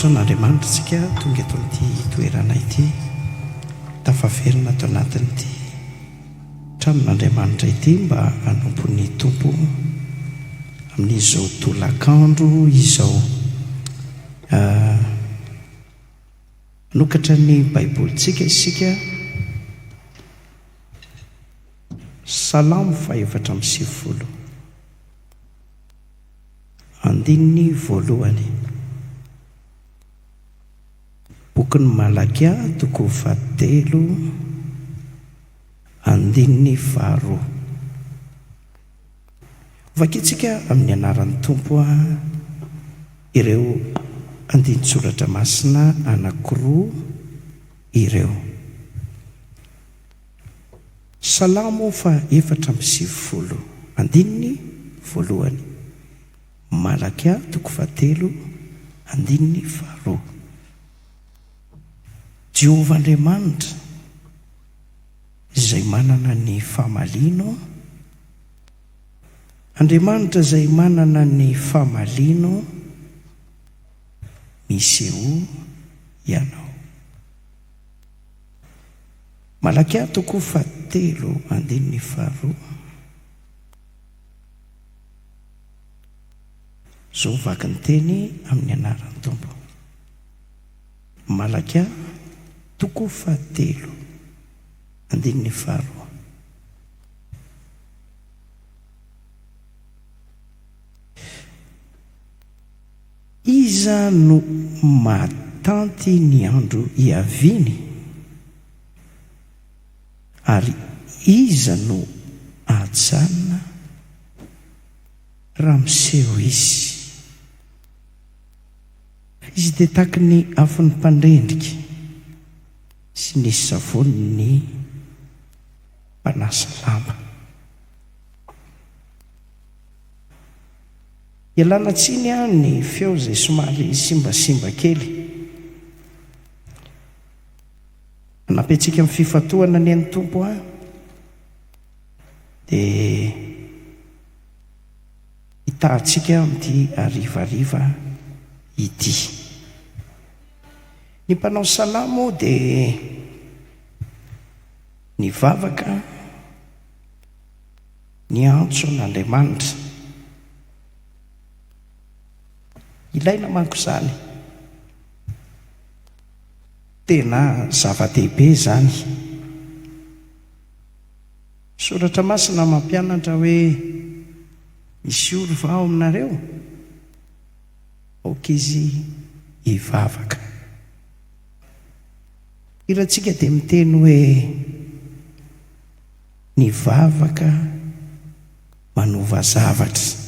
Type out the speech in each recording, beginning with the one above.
Nataon'Andriamanitra antsika tonga eto amin'ity toerana ity, tafaverina ato anatin'ity tranon'Andriamanitra ity mba hanompo ny Tompo amin'izao tolakandro izao. Hanokatra ny Baibolintsika isika, Salamo faha efatra amby sivifolo. Andininy voalohany. Bokin'ny Malakia, toko fahatelo, andininy faharoa. Hovakintsika amin'ny anaran'ny Tompo ireo andinin-tsoratra masina anankiroa ireo. Salamo fa efatra amby sivifolo, andininy voalohany. Malakia toko fahatelo, andininy faharoa. Jehovah Andriamanitra, Izay manana ny famaliano, Andriamanitra izay manana ny famaliano, misehoa Ianao. Malakia toko fahatelo andininy faharoa Zo vaky ny teny amin'ny anaran'ny Tompo Malakia toko fahatelo andininy faharoa Iza no mahatanty ny andro hiaviany? Ary iza no hajanona raha miseho Izy? Izy dia tahaky ny afon'ny mpandrendrika sy ny savonin'ny mpanasa lamba. Ialana tsiny an ny feo zay somary simbasimba kely. Hanampy antsika amin'ny fifantohana anie ny Tompo an! Dia hitahantsika amin'ity harivariva ity. Ny mpanao salamo moa dia nivavaka. Niantso an' Andriamanitra. Ilaina manko izany. Tena zava-dehibe izany. Ny Soratra Masina mampianatra hoe, Misy ory va ao aminareo? Aoka izy hivavaka. Ny hirantsika dia miteny hoe. ny vavaka manova zavatra.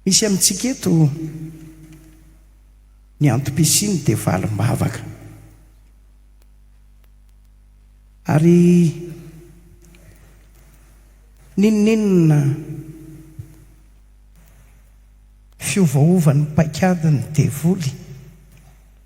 Misy amintsika eto ny antom-pisiany dia valim-bavaka. Ary n'inon'inona fiovaovan'ny paikadin'ny devoly,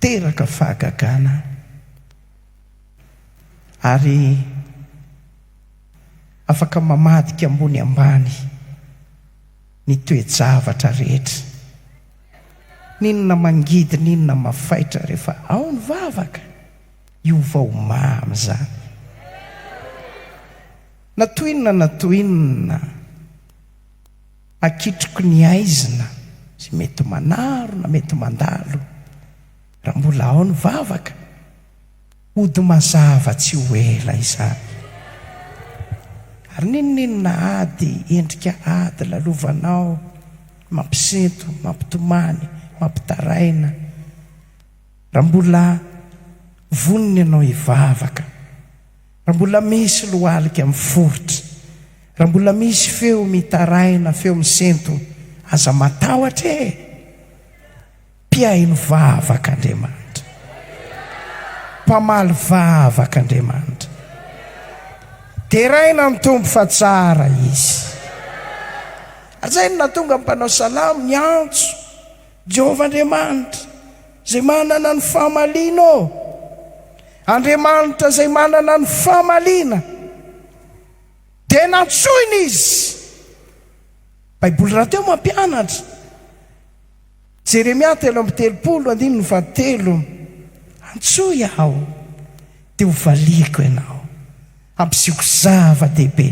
Teraka fahagagana ary afaka mamadika ambony ambany ny toe-javatra rehetra. N'inona mangidy n'inona mafaitra rehefa ao ny vavaka, hiova ho mamy izany. Na toy inona na toy inona. Hakitriko ny haizina izay mety manaro na mety mandalo raha mbola ao ny vavaka. Hody mazava tsy ho ela izany. Ary n'inon'inona ady, endrika ady lalovanao, mampisento, mampitomany, mampitaraina, raha mbola vonona ianao hivavaka. Raha mbola misy lohalika miforitra, raha mbola misy feo mitaraina, feo misento, aza matahotra e! Mpiahy ny vavaka Andriamanitra. Mpamaly vavaka Andriamanitra. Deraina ny Tompo fa tsara Izy. Ary izay no nahatonga ny mpanao salamo niantso. Jehovah Andriamanitra, izay manana ny famaliana ô! Andriamanitra izay manana ny famaliana, dia nantsoina izy. Baiboly rahateo mampianatra, Jeremia telo amby telopolo, andininy fahatelo, Antsoy aho, dia hovaliako ianao. Hampisehoako zava-dehibe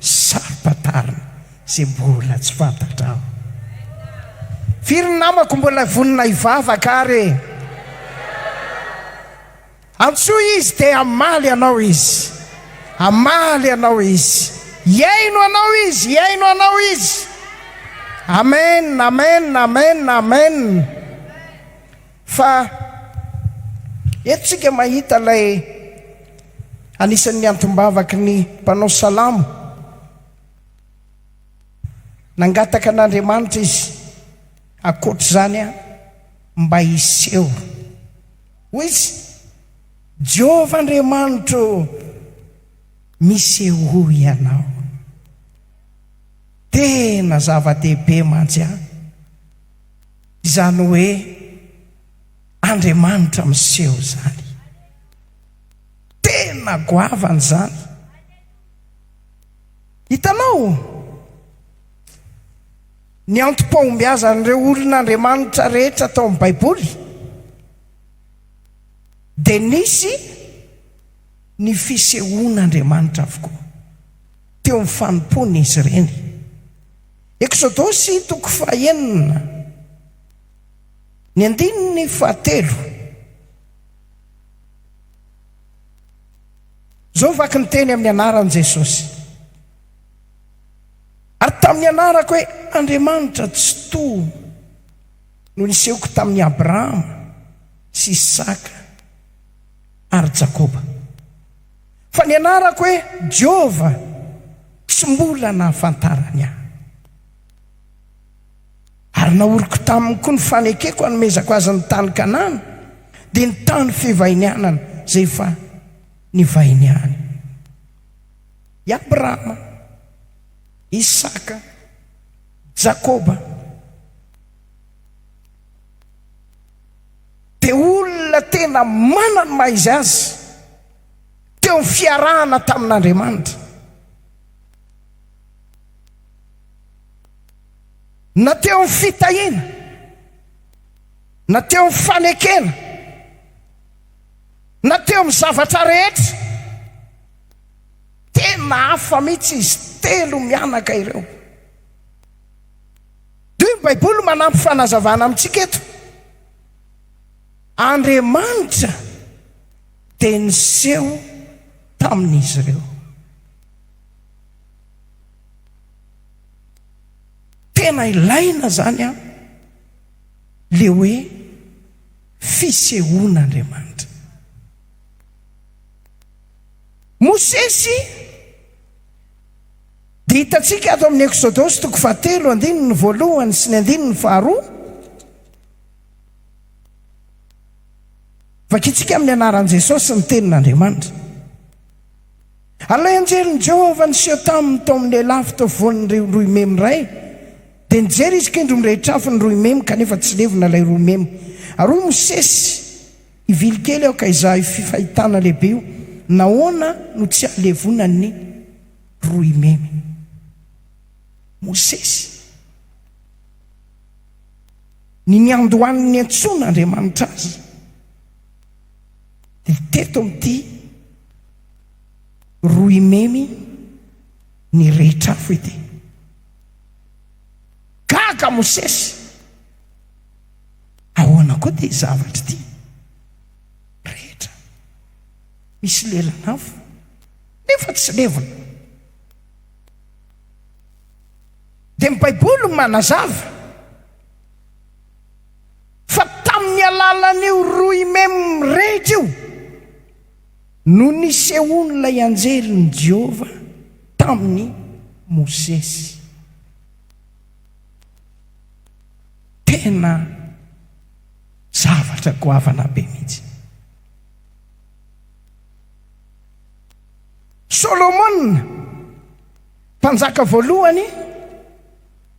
saro-pantarina izay mbola tsy fantatrao. Firy ny namako mbola vonona hivavaka ary e? Antsoy Izy dia hamaly anao Izy. Hamaly anao Izy. Hihaino anao Izy. Hihaino anao Izy. Amen, amen, amen, amen. Fa eto tsika mahita ilay anisan'ny antom-bavaky ny mpanao salamo, Nangataka an'Andriamanitra izy, ankoatr'izany aho mba hiseho. Hoy izy, Jehovah Andriamanitro ô, misehoa ianao. Tena zava-dehibe mantsy an! Izany hoe Andriamanitra miseho izany. Tena goavana izany. Hitanao? Ny antom-pahombiazan'ireo olon'Andriamanitra rehetra tao amin'ny Baiboly dia nisy ny fisehoan'Andriamanitra avokoa teo amin'ny fanompoany izy ireny. Eksodosy toko fahenina, ny andininy fahatelo. Izao ny vaky ny teny amin'ny anaran'i Jesosy. Ary tamin'ny anarako hoe Andriamanitra Tsitoha no nisehoako tamin'i Abrahama sy Isaka ary Jakoba. Fa ny anarako hoe Jehovah tsy mbola nahafantarany ahy. Ary naoriko taminy koa ny fanekeko hanomezako azy ny tany Kanana, dia ny tany fivahinianana izay efa nivahiniany. I Abrahama, Isaka, Jakoba, dia olona tena manana ny maha izy azy. teo ny fiarahana tamin'Andriamanitra. Na teo ny fitahiana, na teo ny fanekena, na teo amin'ny zavatra rehetra, tena hafa mihitsy izy telo mianaka ireo. Dia ny Baiboly manampy fanazavana amintsika eto. Andriamanitra. dia niseho tamin'izy ireo. Tena ilaina izany an, le hoe fisehoana Andriamanitra. Mosesy dia hitantsika ato amin'ny Eksodosy toko fahatelo andininy voalohany sy ny andininy faharoa. Vakintsika amin'ny anaran'i Jesosy ny Tenin'Andriamanitra. Ary ilay anjelin'i Jehovah niseho taminy tao amin'ny lehilahy fotovoan'ireo rohy memy iray, dia nijery izy kindry mirehitra afo ny rohy memy, kanefa tsy levona ilay rohy memy. Ary hoy Mosesy, Hivily kely aho ka hizaha io fahitana lehibe io, Nahoana no tsy ahalevona ny rohy memy? Mosesy. Ny niandohan'ny niantsoana Andriamanitra azy dia teto amin'ity Rohimemy nirehitra afo ity. Gaga Mosesy, ahoana koa ity zavatra ity? Rehetra, misy lelan'afo nefa tsy levona. Dia ny Baiboly no manazava fa tamin'ny alalan'io rohy mem rehetra io no nisehoan'ilay anjelin'i Jehovah tamin'i Mosesy. Tena zavatra goavana be mihitsy. Solomona, Mpanjaka Voalohany,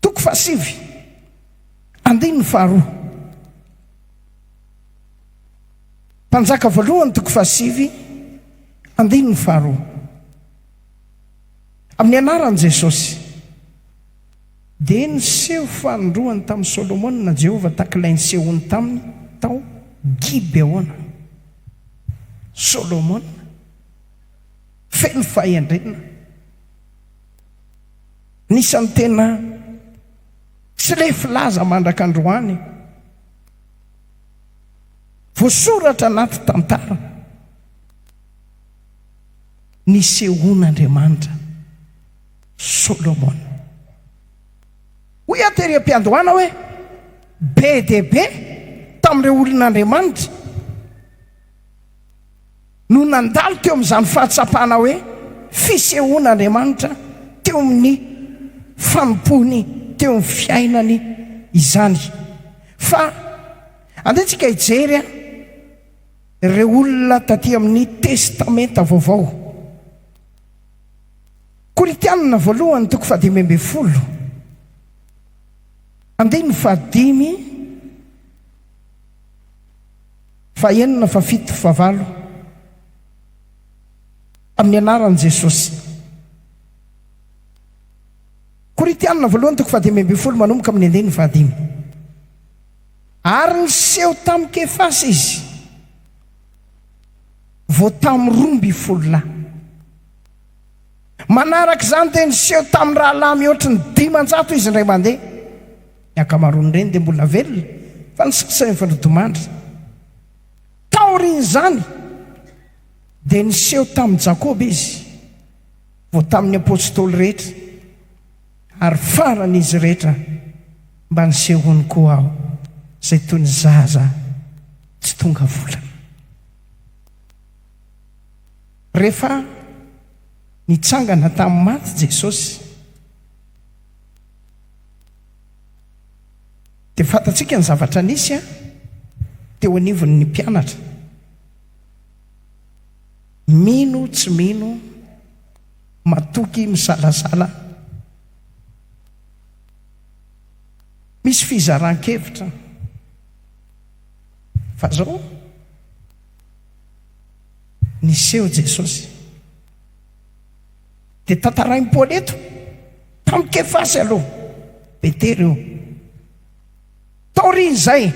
toko fahasivy, andininy faharoa. Mpanjaka Voalohany, toko fahasivy, andininy faharoa. Amin'ny anaran'i Jesosy, dia niseho fanindroany tamin'i Solomona Jehovah tahaka ilay nisehoany taminy tao Gibeona. Solomona, feno fahendrena. Anisan'ny tena tsy lefy laza mandraka androany. Voasoratra anaty tantara nisehoan'Andriamanitra Solomona. Hoy aho tery am-piandohana hoe be dia be tamin'ireo olon'Andriamanitra. no nandalo teo amin'izany fahatsapana hoe fisehoana Andriamanitra teo amin'ny fanompoany teo amin'ny fiainany izany. Fa andeha tsika hijery ireo olona taty amin'ny Testamenta Vaovao. Korintianina voalohany toko fahadimy ambin'ny folo andininy fahadimy. Fahenina, fafito, favalo, Tamin'ny anaran'i Jesosy. Korintianina voalohany toko fahadimy ambin'ny folo manomboka amin'ny andininy fahadimy Ary niseho tamin'i Kefasa izy vao tamin'ny roa ambin'ny folo lahy. Manaraka izany dia niseho tamin'ny rahalahy mihoatra ny dimanjato izy indray mandeha. Ny ankamaroan'ireny dia mbola velona, fa ny sasany efa nodimandry. Taorian'izany, dia niseho tamin'i Jakoba izy, vao tamin'ny apostoly rehetra, ary faran'izy rehetra mba nisehoany koa aho, izay toy ny zaza tsy tonga volana. Rehefa nitsangana tamin'ny maty Jesosy, dia fantatsika ny zavatra nisy teo anivon'ny mpianatra. Mino tsy mino, matoky misalasala, misy fizaran-kevitra. Fa izao? niseho Jesosy. Dia tantarain'i Paoly eto, tamin'i Kefasy aloha, Petera io. Taorian'izay,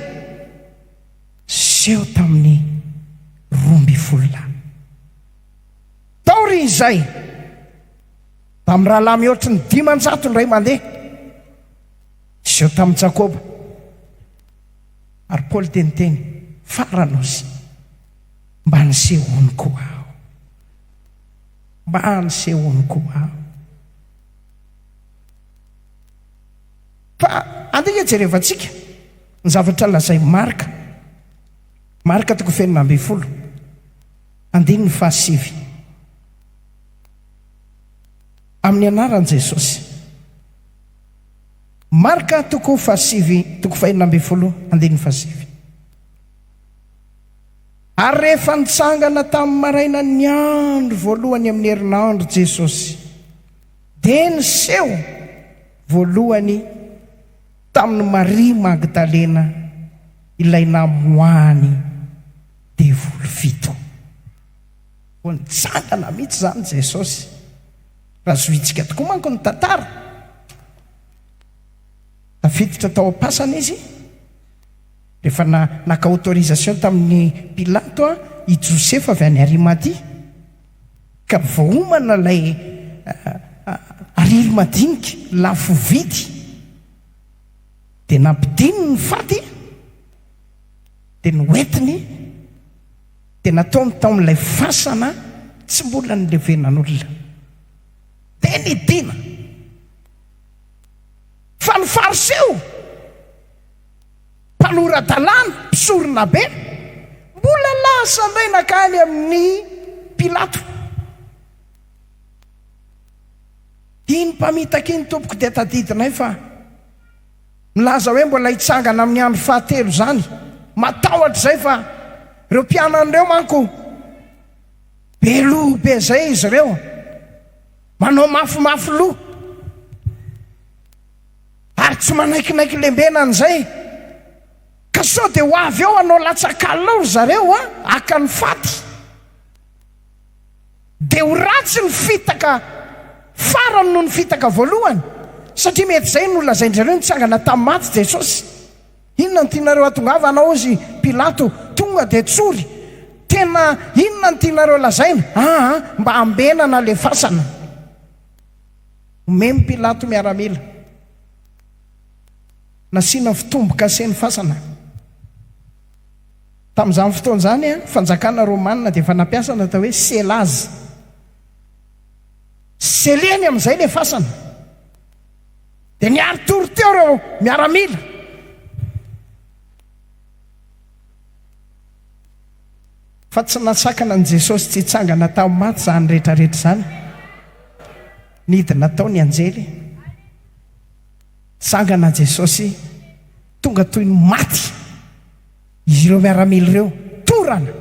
seho tamin'ny roa ambin'ny folo lahy. Taorian'izay, tamin'ny rahalahy mihoatry ny dimanjato indray mandeha, seho tamin'i Jakoba. Ary Paoly dia niteny, Fara nosy. Mba nisehoany ko aho Mba nisehoany ko aho Fa andeha nge jerevantsika Ny zavatra lazain'i Marc Marc toko fahenina ambin'ny folo andininy fahasivy Amin'ny anaran'i Jesosy Marc toko fahasivy toko fahenina ambin'ny folo andininy fahasivy. Ary rehefa nitsangana tamin'ny marainan'ny andro voalohany amin'ny herinandro Jesosy, dia niseho voalohany tamin'i Maria Magdalena ilay namoahany devoly fito. Vao nitsangana mihitsy izany Jesosy. Raha zohintsika tokoa manko ny tantara, tafiditra tao am-pasana izy. Rehefa naka autorisation tamin'i Pilato i Josefa avy any Arimatia, ka vao homana ilay ariry madinika lafo vidy, dia nampidininy ny faty, dia noentiny, dia nataony tao amin'ilay fasana tsy mbola nilevenan'olona. Dia nidina. Fa ny Fariseo Mpanora-dalàna, mpisoronabe, mbola lasa indray nankany amin'i Pilato. Iny mpamitaka iny, Tompoko, dia tadidinay fa milaza hoe mbola hitsangana amin'ny andro fahatelo izany. Matahotra izay fa ireo mpianany ireo manko be loha be izay izy ireo, manao mafimafy loha. Ary tsy manaikinaiky lembena an'izay. Ka sao dia ho avy eo hanao latsa-kalao ry zareo an, haka ny faty. Dia ho ratsy ny fitaka farany noho ny fitaka voalohany. Satria mety izay no nolazain-dry-zareo nitsangana tamin'ny maty Jesosy. Inona no tianareo hatongavana hozy Pilato, tonga dia tsory. Tena inona no tianareo lazaina? Aa, mba ambena na lefasana. Omen'i Pilato miaramila. Nasiana fitombokase ny fasana. Tamin'izany fotoana izany, ny fanjakana romanina dia efa nampiasa ny atao hoe selaz. Seleny amin'izay ilay fasana. Dia niari-tory teo ireo miaramila. Fa tsy nasakana an'i Jesosy tsy hitsangana tamin'ny maty izany rehetrarehetra izany. Nidina tao ny anjely. Nitsangana Jesosy. Tonga toy ny maty izy ireo miaramila ireo. Torana.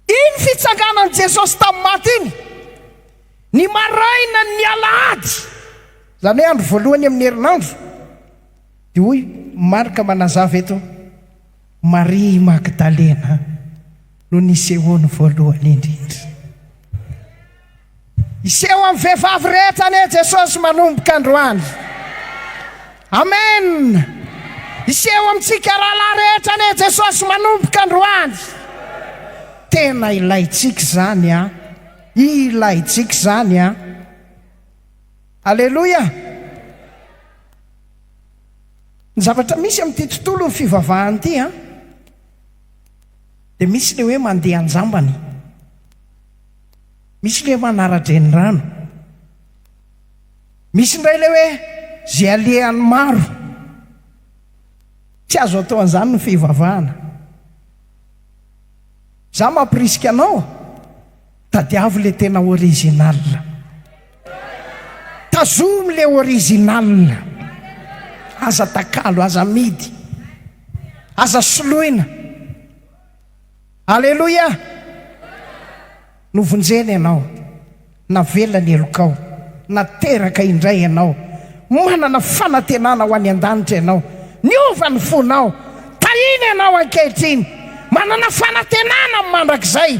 Iny fitsanganan'i Jesosy tamin'ny maty iny, ny marainan'ny alahady, izany hoe andro voalohany amin'ny herinandro, dia hoy Marka manazava eto, Maria i Magdalena no nisehoany voalohany indrindra. Hiseho amin'ny vehivavy rehetra anie Jesosy manomboka androany. Amen. Hiseho amintsika rahalahy rehetra anie Jesosy manomboka androany. Tena ilaintsika izany an. Ilaintsika izany an. Aleloia. Ny zavatra misy amin'ity tontolon'ny fivavahana ity an, dia misy ilay hoe mandeha an-jambany, misy ilay hoe manara-drenirano, misy indray ilay hoe izay alehan'ny maro. Tsy azo atao an'izany ny fivavahana. Izaho mampirisika anao. Tadiavo le tena original. Tazomy le original. Aza takalo, aza amidy. Aza soloina. Aleloia! Novonjena ianao. Navela ny helokao. Nateraka indray ianao. Manana fanantenana ho any an-danitra ianao. Niova ny fonao. Tahiana ianao ankehitriny. Manana fanantenana amin'ny mandrakizay.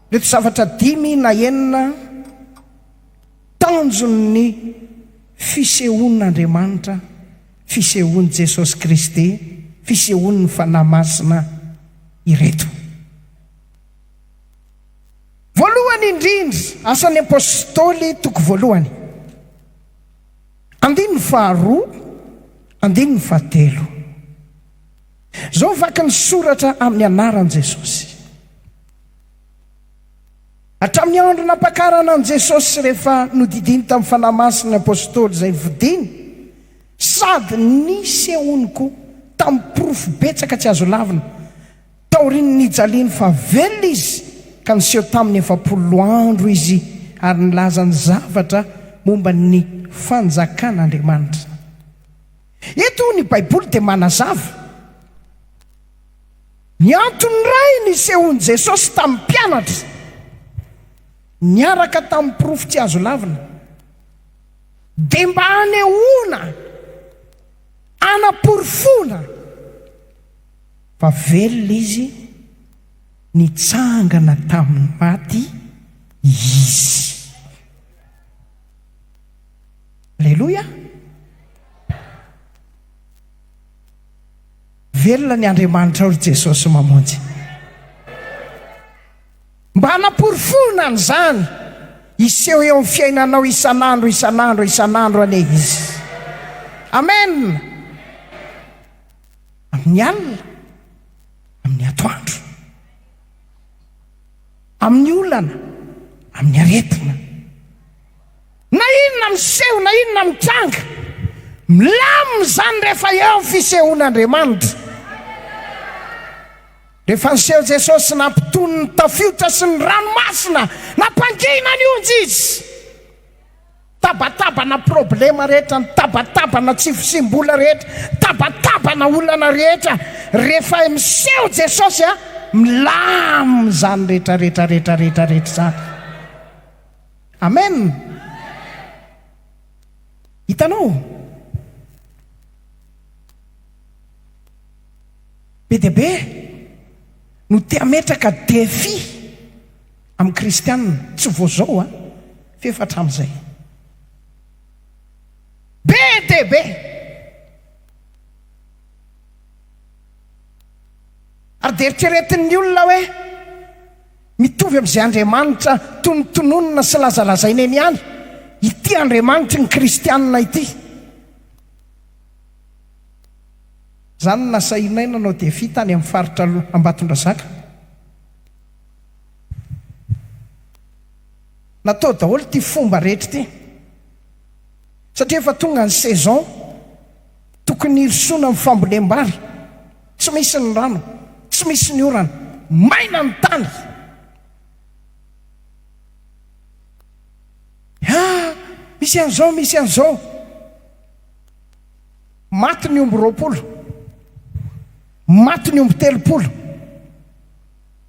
Ireto zavatra dimy na enina tanjon'ny fisehoan'Andriamanitra, fisehoan'i Jesosy Kristy, fisehoan'ny Fanahy Masina ireto. Voalohany indrindra, Asan'ny Apostoly, toko voalohany, andininy faharoa, andininy fahatelo. Izao vaky ny soratra amin'ny anaran'i Jesosy. Hatramin'ny andro nampakarana an'i Jesosy sy rehefa nodidiany tamin'ny Fanahy Masina ny Apôstôly izay vodiany, sady nisehoany koa tamin'ny porofo betsaka tsy azo lavina, taorian'ny nijaliany fa velona Izy, ka niseho taminy efapolo andro Izy ary nilaza ny zavatra momba ny Fanjakan'Andriamanitra. Eto ny Baiboly dia manazava. Ny antony iray nisehoan'i Jesosy tamin'ny mpianatra niaraka tamin'ny porofo tsy azo lavina, dia mba hanehoana, hanaporofoana, fa velona Izy, nitsangana tamin'ny maty Izy. Aleloia! Velona ny Andriamanitrao ry Jesosy Mamonjy. Mba hanaporofoana an'izany, hiseho eo amin'ny fiainanao isan'andro, isan'andro, isan'andro anie Izy. Amen! Amin'ny alina, amin'ny atoandro. Amin'ny olana, amin'ny aretina. Na inona miseho na inona mitranga, milamina izany rehefa eo ny fisehoan'Andriamanitra. Rehefa niseho Jesosy sy nampitony ny tafiotra sy ny ranomasina, nampangina ny onja Izy. Nitabatabana problema rehetra, nitabatabana tsy fisiam-bola rehetra, nitabatabana olana rehetra. Rehefa miseho Jesosy, milamina izany rehetra rehetra rehetra rehetra rehetra izany. Amen! Hitanao? Be dia be no te hametraka défi amin'ny kristianina, tsy vao zao an, f'efa hatramin'izay. Be dia be! Ary dia eritreretin'ny olona hoe, Mitovy amin'izay Andriamanitra tonontononina sy lazalazaina eny ihany ity Andriamanitry ny kristianina ity. Za no nasahinay nanao defi tany amin'ny faritra Ambatondrazaka. Natao daholo ity fomba rehetra ity. satria efa tonga ny saison tokony hirosoana amin'ny fambolem-bary, tsy misy ny rano, tsy misy ny orana, maina ny tany. Ah! Misy an'izao, misy an'izao. Maty ny omby roapolo, maty ny omby telopolo,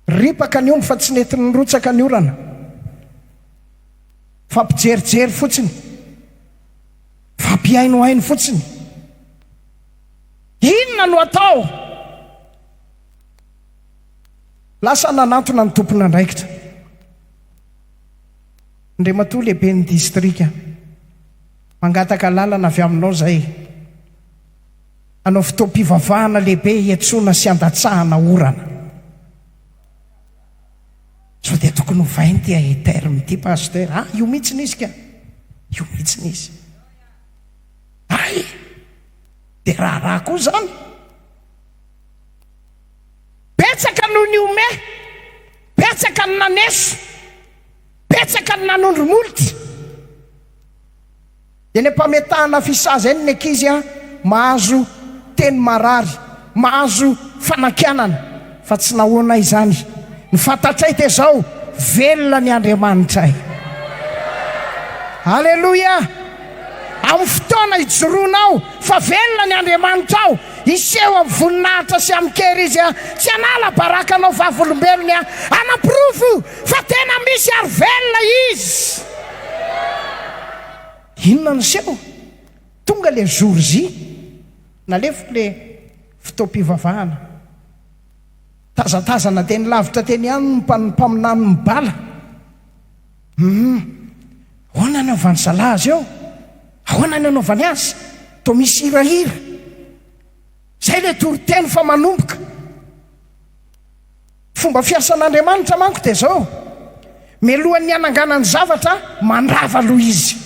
ripaka ny omby fa tsy nety nirotsaka ny orana. Fampijerijery fotsiny, fampihainohaino fotsiny. Inona no atao? Lasa nanantona ny tompon'andraikitra, Andriamatoa Lehiben'ny Distrika, mangataka alalana avy aminao izay hanao fotoam-pivavahana lehibe hiantsoana sy handatsahana orana. Sao dia tokony ovaina ity ae terme ity Pasteur a! Io mihitsiny izy ka! Io mihitsiny izy! Hay! Dia raharaha koa izany! Betsaka no nihomehy, betsaka no naneso, betsaka no nanondro molitra. Eny ampametahana fisaza eny ny ankizy a, mahazo teny marary, mahazo fanakianana fa tsy nahoana izany, ny fantatray dia zao, velona ny Andriamanitray. Aleloia! Amin'ny fotoana ijoroanao fa velona ny Andriamanitrao, hiseho amin'ny voninahitra sy amin'ny kery Izy a, tsy hanala baraka anao vavolombelony a, hanaporofo Fa tena misy ary velona izy. Inona no seho? Tonga ilay jour J, nalefiko ilay fotoam-pivavahana. Tazatazana teny lavitra teny ihany ny mpaminany mibala. Humm, ahoana ny anaovan'i zalahy azy eo? Ahoana ny anaovany azy? Toa misy hirahira. Izay ilay toriteny fa manomboka. Fomba fiasan'Andriamanitra manko dia izao, Mialohan'ny hananganany zavatra, mandrava aloha Izy.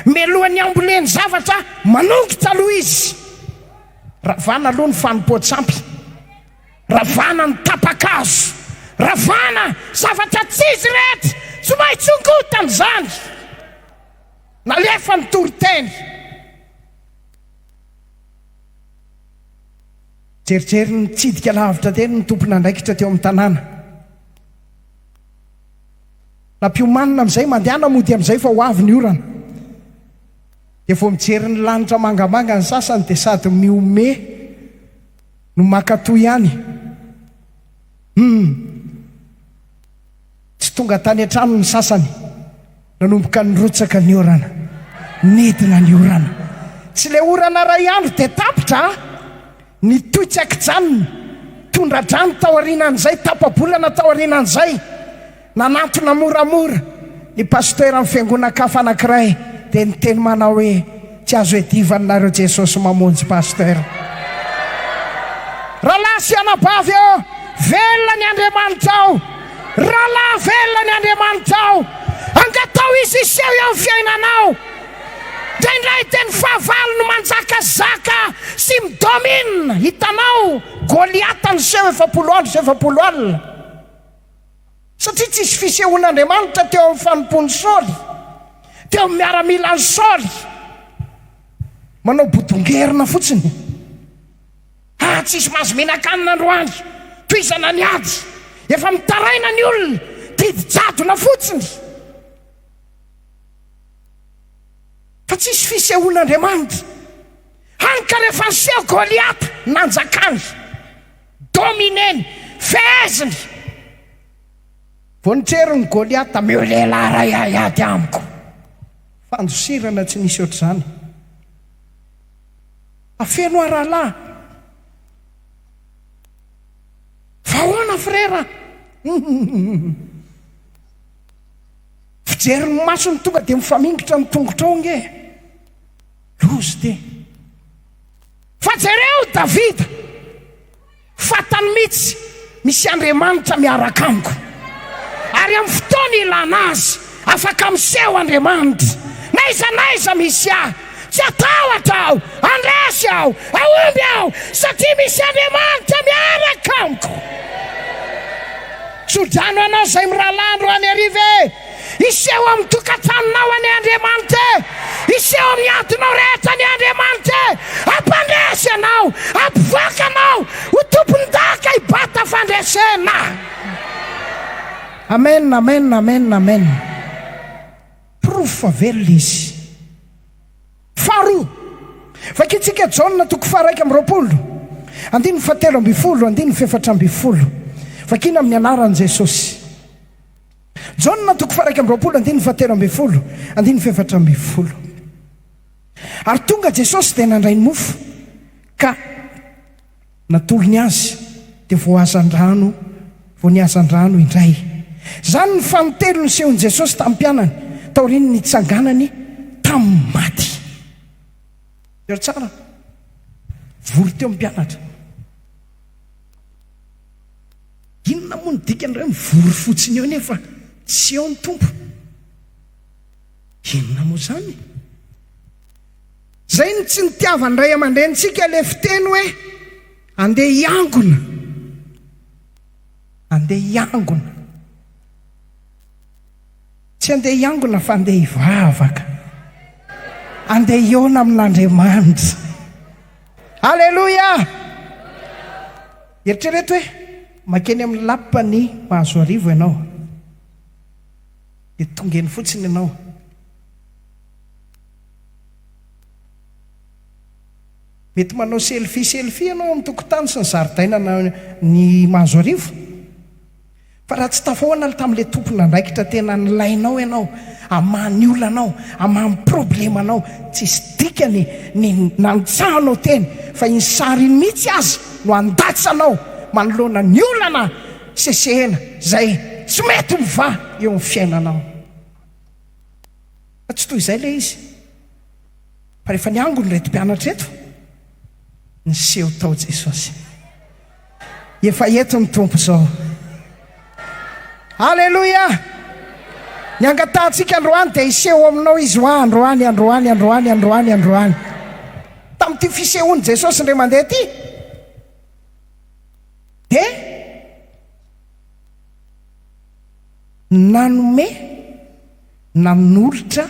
Mialohan'ny hamboleny zavatra, manongotra aloha Izy. Ravana aloha ny fanompoan-tsampy. Ravana ny tapa-kazo. Ravana zavatra tsy izy rehetra. Tsy maintsy hongotana izany. Nalefa ny toriteny. Jerijery nitsidika lavitra teny ny tompon'andraikitra teo amin'ny tanàna. Nampiomanina amin'izay, mandehana mody amin'izay fa ho avy ny orana. Dia vao mijery ny lanitra mangamanga ny sasany dia sady mihomehy no mankatò ihany. Humm. Tsy tonga tany an-trano ny sasany, nanomboka nirotsaka ny orana, nidina ny orana. Tsy ilay orana iray andro dia tapitra an! Nitohy tsy an-kijanona, tondra-drano tao aorianan'izay, tapa-bolana tao aorianan'izay. Nanantona moramora ny pasiteran'ny fiangonan-kafa anankiray dia niteny manao hoe, Tsy azo iadivaninareo Jesosy mamonjy Pasteur. Rahalahy sy anabavy ô! Velona ny Andriamanitra ô! Rahalahy velona ny Andriamanitra ô! Angataho Izy hiseho eo amin'ny fiainanao! Indraindray dia ny fahavalo no manjakazaka sy mi-domine! Hitanao Goliata niseho efapolo andro sy efapolo alina. Satria tsy nisy fisehoan'Andriamanitra teo amin'ny fanompoan'i Saoly, teo amin'ny miaramilan'i Saoly. Manao bodongerona fotsiny. Ah, tsisy mahazo mihinan-kanina androany. Tohizana ny ady. Efa mitaraina ny olona. Didy jadona fotsiny. Fa tsy nisy fisehoan'Andriamanitra. Hany ka rehefa niseho Goliata, nanjakany. Domineny, feheziny! Vao nitrerin'i Goliata, Omeo lehilahy iray haiady amiko! Fandosirana tsy nisy ohatr'izany. Afeno aho rahalahy! Fa ahoana frera? Fijery ny masony tonga dia mifamingotra ny tongotrao nge! Loza ity! Fa jereo Davida, fantany mihitsy misy Andriamanitra miaraka amiko, ary amin'ny fotoana ilana azy, afaka miseho Andriamanitra. N'aiza n'aiza misy ahy, tsy hatahotra aho, handresy aho, hahomby aho, satria misy Andriamanitra miaraka amiko. Tsodrano anao izay mirahalahy androany hariva e! Hiseho amin'ny tokantranonao anie Andriamanitra e! Hiseho amin'ny adinao rehetra anie Andriamanitra e! Hampandresy ianao! Hampivoaka anao ho tompondaka i Bata Fandresena! Amen, amen, amen, amen! Porofo fa velona Izy. Faharoa, vakintsika Jaona toko faharaika amby roapolo, andininy fahatelo ambin'ny folo, andininy fahefatra ambin'ny folo. Vakina amin'ny anaran'i Jesosy. Jaona toko faha iraika amby roapolo andininy faha telo ambin'ny folo andininy faha efatra ambin'ny folo Ary tonga Jesosy dia nandray ny mofo ka natolony azy dia voahazan-drano vao nihazan-drano indray Izany ny faha telo nisehoan'i Jesosy tamin'ny mpianany taorian'ny nitsanganany tamin'ny maty Hery tsara vory teo ny mpianatra. Inona moa no dikan'ireo hoe mivory fotsiny eo nefa tsy eo ny Tompo? Inona moa izany? Izay no tsy nitiavan'ny ray aman-drenintsika ilay fiteny hoe andeha hiangona. Andeha hiangona. Tsy andeha hiangona fa andeha hivavaka. Andeha hihaona amin'Andriamanitra. Alléluia! Eritrereto hoe mankeny amin'ny lapan'i Pahazoarivo ianao, dia tonga eny fotsiny ianao. Mety manao selfie selfie ianao amin'ny tokontany sy ny zaridainan'i Mahazoarivo. Fa raha tsy tafahoana aloha tamin'ilay tompon'andraikitra tena nilainao ianao hamaha ny olanao, hamaha ny problemanao, tsy hisy dikany ny nantsahanao teny fa iny sary iny mihitsy aza no handatsanao manoloana ny olana sesehena izay tsy mety mivaha eo amin'ny fiainanao. Fa tsy toy izay ilay izy fa rehefa niangona ireto mpianatra ireto, niseho tao Jesosy. Efa eto ny Tompo izao. Aleloia! Ny angatahantsika androany dia hiseho aminao Izy ho'a androany, androany, androany, androany, androany. Tamin'ity fisehoan'i Jesosy indray mandeha ity, dia nanome, nanolotra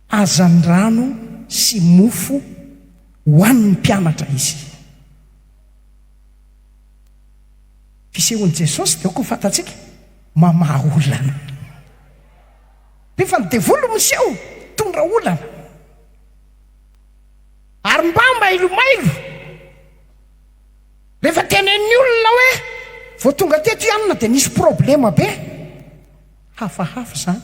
hazandrano sy mofo ho an'ny mpianatra Izy. Fisehon'i Jesosy dia aoka ho fantatsika, mamaha olana. Dia efa ny devoly no miseho, mitondra olana. Ary mba mailomailo, rehefa tenenin'ny olona hoe, vao tonga teto i Anna dia nisy problema be. Hafahafa izany.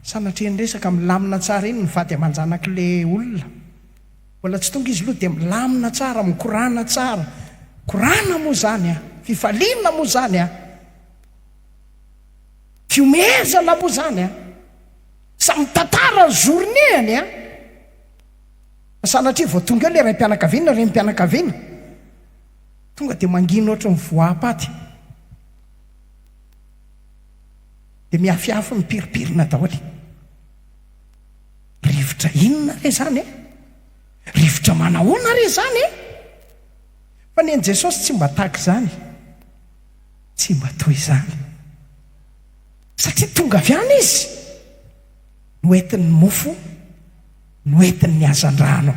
Sanatria ny resaka milamina tsara iny ny vady aman-janak'ilay olona. Mbola tsy tonga izy loha dia milamina tsara, mikorana tsara. Korana moa izany an! Fifaliana moa izany an! Fihomehezana moa izany an! Sa mitantara ny journée-ny an! Fa sanatria vao tonga eo ilay raim-pianakaviana, renim-pianakaviana, tonga dia mangina ohatry ny voam-paty. Dia mihafihafy mipiripirina daholo. Rivotra inona re izany e? Rivotra manahoana re izany e? Fa ny an'i Jesosy tsy mba tahaka izany, tsy mba toy izany. Satria tonga avy any Izy, noentiny ny mofo, noentiny ny hazandrano,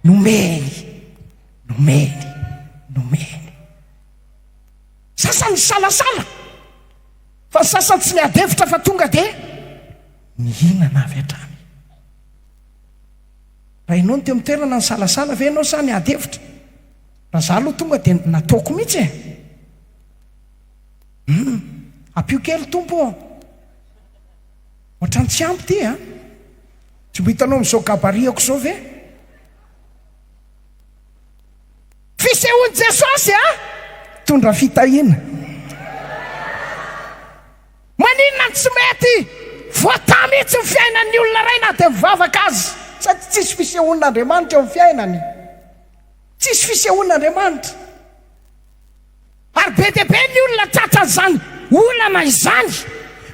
nomeny, nomeny, nomeny. Sasany nisalasala, fa ny sasany tsy niady hevitra fa tonga dia. Nihinana avy hatrany. Raha ianao no teo amin'ny toerana nisalasala ve ianao sa niady hevitra? Raha izaho aloha tonga dia nataoko mihitsy e! Hum, ampio kely Tompo ô! Ohatran'ny tsy ampy ity a! Tsy mba hitanao amin'izao gabarit-ako izao ve? Fisehoan'i Jesosy a! Mitondra fitahiana. Maninona no tsy mety? Voataha mihitsy ny fiainan'ny olona iray na dia mivavaka aza. Sady tsisy fisehoan'Andriamanitra eo amin'ny fiainany. Tsisy fisehoan'Andriamanitra. Ary be dia be ny olona tratran'izany olana izany.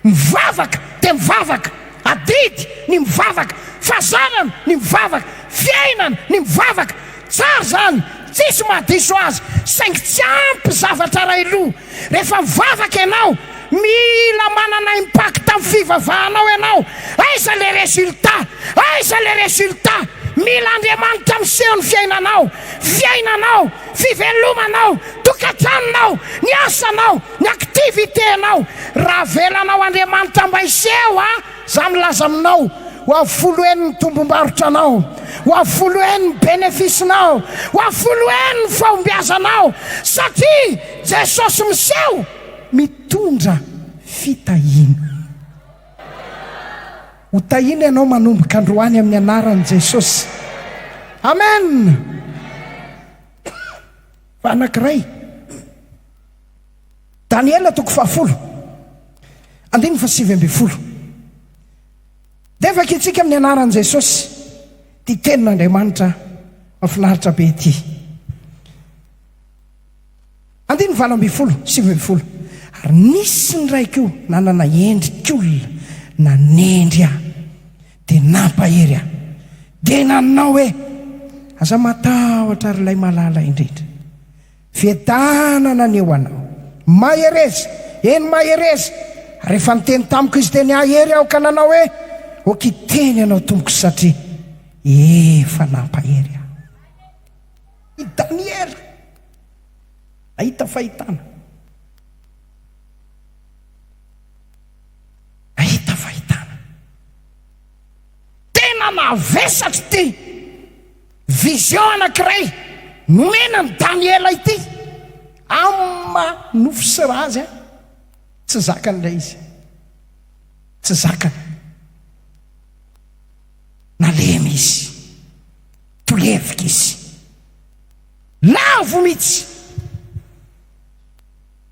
Mivavaka dia mivavaka. Adidy ny mivavaka. Fazanana ny mivavaka. Fiainana ny mivavaka. Tsara izany. Tsisy mahadiso azy. Saingy tsy ampy zavatra iray loha. Rehefa mivavaka ianao, mila manana impact amin'ny fivavahanao ianao. Aiza ilay résultat? Aiza ilay résultat? Mila Andriamanitra miseho ny fiainanao, fiainanao, fivelomanao, tokantranonao, ny asanao, ny activité-nao. Raha avelanao Andriamanitra mba hiseho a! Za milaza aminao, ho avy folo heny ny tombom-barotranao, ho avy folo heny ny benefisinao, ho avy folo heny ny fahombiazanao, satria Jesosy miseho mitondra fitahiana. Ho tahiana ianao manomboka androany amin'ny anaran'i Jesosy. Amen! Fa anankiray. Daniela toko fahafolo, andininy fahasivy ambin'ny folo. Dia vaki ntsika amin'ny anaran'i Jesosy ity tenin'Andriamanitra mafinaritra be ity. Andininy valo ambin'ny folo, sivy ambin'ny folo. Ary nisy ny raiko nanana endrik'olona nanendry ahy dia nampahery ahy. Dia nanao hoe, Aza matahotra ry ilay malala indrindra. Vedana naneho anao. Mahereza! Eny, mahereza! Rehefa niteny tamiko izy dia nihahery aho ka nanao hoe, Ok, teny ianao tompoko satria efa nampahery ahy. I Daniela nahita fahitana. Nahita fahitana. Tena navesatra ity. Vision anankiray nomena an'i Daniela ity amma nofo sy ra azy a! Tsy zakany ilay izy. Tsy zakany. Nalemy izy. Tolevika izy. Lavo mihitsy.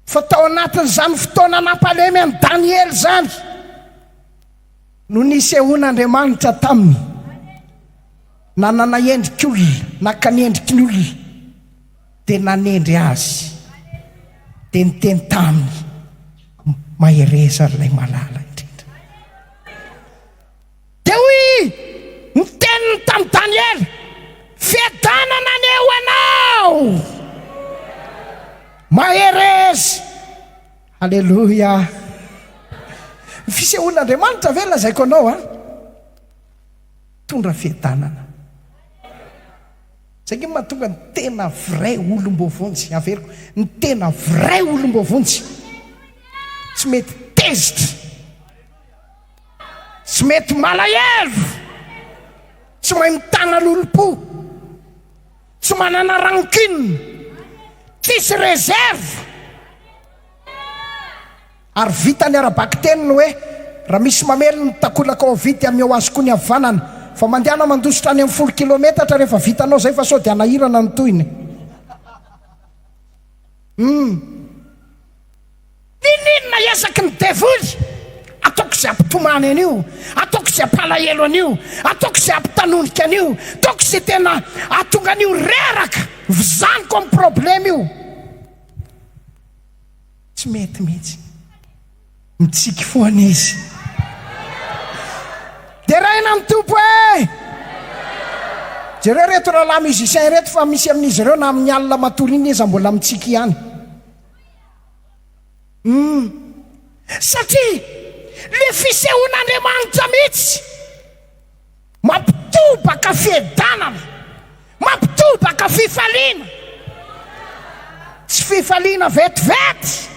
Fa tao anatin'izany fotoana nampalemy an'i Daniela izany no nisehoan'Andriamanitra taminy. Nanana endrik' olona, naka ny endriky ny olona, dia nanendry azy, dia niteny taminy, Mahereza ry Ilay Malala indrindra. Dia hoy ny teniny tamin'i Daniela, Fiadanana anie ho anao! Mahereza! Aleloia! Ny fisehoan'Andriamanitra ve lazaiko anao an? Mitondra fiadanana. Izay angamba no mahatonga ny tena vrai olom-boavonjy, averiko, ny tena vrai olom-boavonjy tsy mety tezitra, tsy mety malahelo, tsy mahay mitana lolompo, tsy manana rancune, tsisy réserve. Ary vita ny ara-bakiteny ny hoe, raha misy mamely ny takolaka ao havia dia ameo azy koa ny havanana. Vao mandehana mandositra any amin'ny folo kilometatra rehefa vitanao izay fa sao dia hanahirana ny tohiny. Humm. N'inon'inona ezaky ny devoly, ataoko izay hampitomany an'io, ataoko izay hampalahelo an'io, ataoko izay hampitanondrika an'io, ataoko izay tena hahatonga an'io reraka, vizaniko amin'ny problème io. Tsy mety mihitsy. Mitsiky foana izy. Deraina ny Tompo eh! Jereo ireto rahalahy musiciens ireto fa misy amin'izy ireo na amin'ny alina matory iny aza mbola mitsiky ihany. Hum. Satria le fisehoan'Andriamanitra mihitsy. Mampitobaka fiadanana, mampitobaka fifaliana. Tsy fifaliana vetivety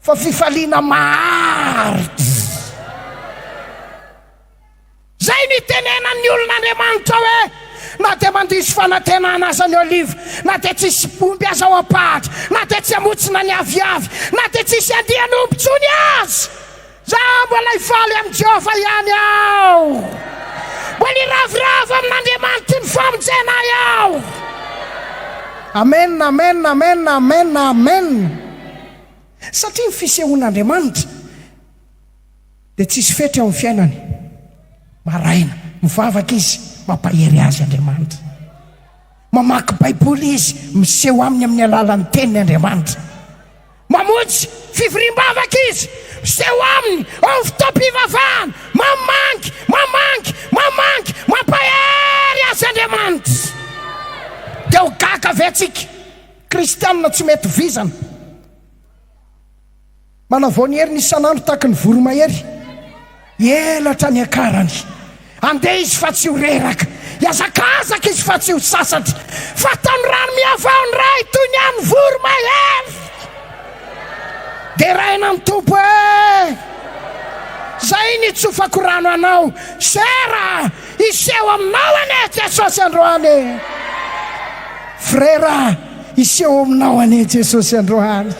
fa fifaliana maharitra. Izay nitenenan'ny olon'Andriamanitra hoe, Na dia mandiso fanantenana aza ny oliva, na dia tsy hisy omby aza ao am-pahatra, na dia tsy hamontsina ny aviavy, na dia tsy hisy andian'omby intsony aza. Izaho mbola hifaly amin'i Jehovah ihany aho. Mbola hiravoravo amin'Andriamanitry ny famonjena ahy aho. Amen, amen, amen, amen, amen. Satria ny fisehoan'Andriamanitra dia tsisy fetra eo amin'ny fiainany. Maraina, mivavaka izy, mampahery azy Andriamanitra. Mamaky Baiboly izy, miseho aminy amin'ny alalan'ny Teniny Andriamanitra. Mamonjy fivoriam-bavaka izy, miseho aminy eo amin'ny fotoam-pivavahana, mamangy, mamangy, mamangy, mampahery Azy Andriamanitra. Dia ho gaga ve antsika Kristianina tsy mety vizana, manavao ny heriny isan'andro tahaka ny voromahery? Hielatra ny akarany. Handeha izy fa tsy ho reraka. Hiazakazaka izy fa tsy ho sasatra. Fatan'ny rano mihavao ny ray toy ny an'ny voromahery. Deraina ny Tompo eh! Zay nitsofako rano anao. Sera, hiseho aminao anie Jesosy androany eh! Frera, hiseho aminao anie Jesosy androany.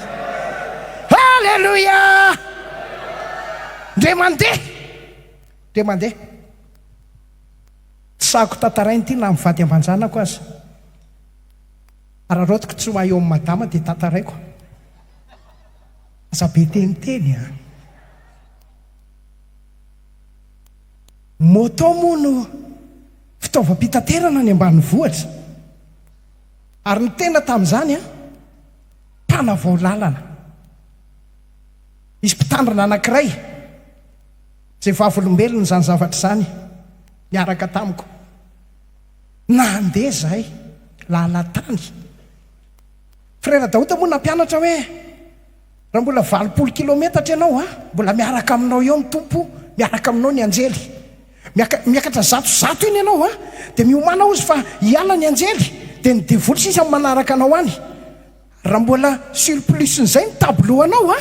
Haleloia! Dia mandeha! Dia mandeha! Tsy sahako tantaraina ity na mivady aman-janako aza. Araraotiko tsy ho ahy eo amin'i Madama dia tantaraiko. Aza be teniteny an! Moto moa no fitaovam-pitaterana any ambanivohitra. Ary ny tena tamin'izany an, mpanavao lalana. Nisy mpitandrina anankiray izay vavolombelona izany zavatra izany niaraka tamiko. Nandeha izahay lalan-tany. Frera Daouda moa nampianatra hoe, Raha mbola valopolo kilometatra ianao, mbola miaraka aminao eo ny Tompo, miaraka aminao ny anjely. Miaka, miakatra zatozato eny ianao, dia miomàna hozy fa hiala ny anjely, dia ny devoly sisa manaraka anao any. Raha mbola surplus n'izay ny tableau anao a!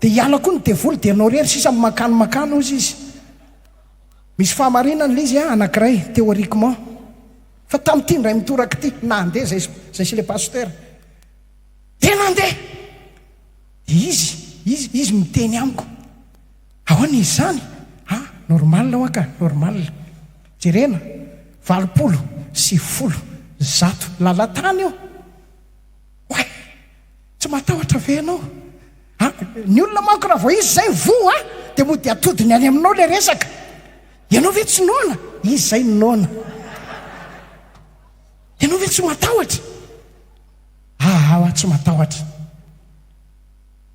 Dia hiala koa ny devoly dia anao irery sisa no mankany mankany hozy izy. Misy fahamarinany ilay izy a, anankiray, théoriquement. Fa tamin'ity indray mitoraka ity, nandeha izay, izay sy ilay pasitera. Dia nandeha! Dia izy, izy, izy miteny amiko. Ahoana izy izany? Ah, normal hoa ka, normal. Jerena, valopolo sy folo, zato, lalan-tany io. Oay! Tsy matahotra ve ianao? A! Ny olona manko raha vao izy izay voa dia mody atodiny any aminao ilay resaka. Ianao ve tsy noana? Izy izay no noana. Ianao ve tsy matahotra? Aa aho tsy matahotra.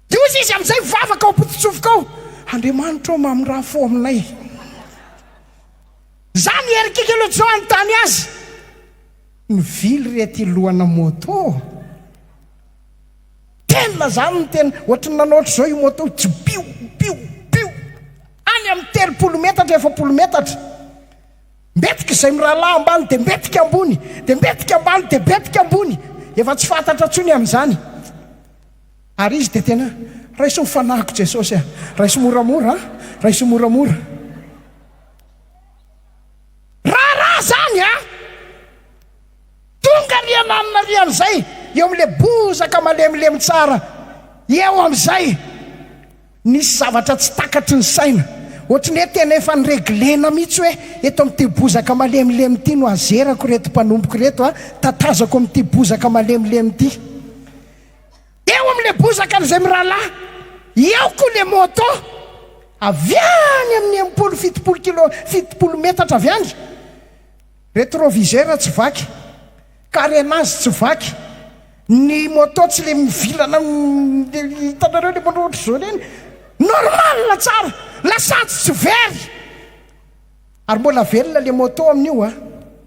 Dia hoy izy amin'izay mivavaka ao am-pototsofoka ao, Andriamanitra ô mamiraha fo aminay. Izany i Erkki Kylojo hanontany azy. Mivily re ty lohana moto ô! Tena zany ny tena ohatry ny nanao ohatry zao io moto io jbio bio bio any amin'ny telopolo metatra efapolo metatra mbetika izay mirahalaha ambany dia mbetika ambony dia mbetika ambany dia mbetika ambony efa tsy fantatra intsony amin'izany ary izy dia tena raiso ny fanahiko Jesosy a! raiso moramora a! raiso moramora Raharaha zany a! Tonga ry ananona ry amizay eo amle bozaka malemilemy tsara eo amizay nisy zavatra tsy takatry ny saina ohatry ny hoe tena efa ny reglena mitsy hoe eto amty bozaka malemilemy ty no azerako reto mpanompoko reto a tatazako amty bozaka malemilemy ty Eo amin'ilay bozaka izay mirahalahy eo koa ilay môtô avy any amin'ny enimpolo, fitopolo kilô, fitopolo metatra avy any. Retroviseur tsy vaky, carénage tsy vaky, ny môtô tsy ilay mivilana hitanareo ilay môtô ohatr'izao ireny, normal tsara, lasantsy tsy very. Ary mbola velona le moto amin'io a!